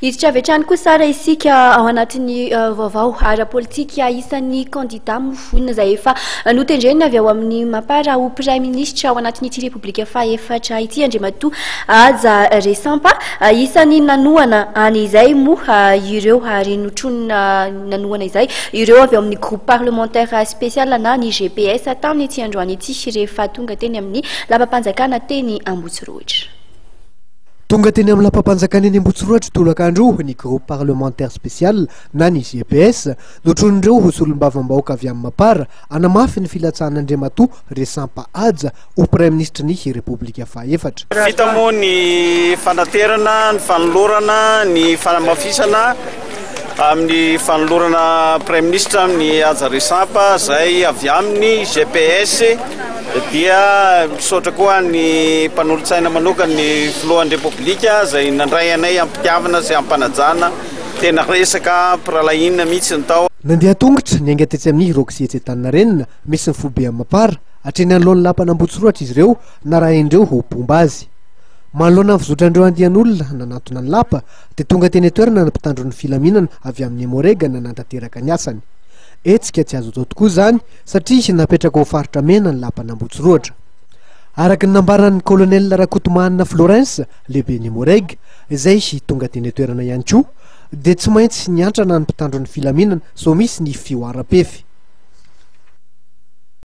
Hiditra avy hatrany kosa ary isika ao anatin'ny vaovao ara-politika isan'ny kandida mofona izay efa notendrena avy ao amin'ny mapara ho praiministra ao anatin'ity repoblika fahefatra ity andriamatoa aja resampa isan'ny nanohana any izay moa ireo ary notronina nanohana izay ireo avy ao amin'ny groupe parlementaire spécial na ny gps tany ity androany ity rehefa tonga teny amin'ny lapam-panjakana teny ambotsirohitra Tonga teny amin'ny lapam-panjakana eny Ambohitsorohatra tolakandro ny Groupe Parlementaire Spécial na ny GPS, notronin'ireo solombavambahoaka avy amin'ny Mapar, hanamafy ny filatsahan'Andriamatoa Resampa Haja ho Praiminisitry ny Repoblika fahaefatra. Vita moa ny fanaterana, ny fanolorana, ny fanamafisana. amin'ny fanolorana praiminisitra ny haja resampa izay avy amin'ny GPS dia misaotra koa ny mpanolotsaina manokana ny filohan'ny repoblika izay nandray anay ampitiavana sy ampanajana tena resaka mpiralahinina mihitsy ny tao Nandeha an-tongotra niainga tetsy amin'ny Roxy etsy Antaninarenina misy ny foibe Amapara hatreny anoloan'ny lapan'Ambohitsorohatra izy ireo narahin'ireo ho mpomba azy. Manoloana ny fizotran'ireo andian'olona nanatona ny lapa, dia tonga teny an-toerana ny mpitandro ny filaminana avy amin'ny Emmo-Reg nanantanteraka ny asany. Hetsika tsy azo atao tokoa izany satria napetraka ho faritra mena ny lapan'Ambohitsirohatra. Araka ny nambaran'ny Colonel Rakotomanana Florens, lehiben'ny Emmo-Reg, izay tonga teny an-toerana ihany koa, dia tsy maintsy niantrana ny mpitandro ny filaminana sao misy ny fihoaram-pefy.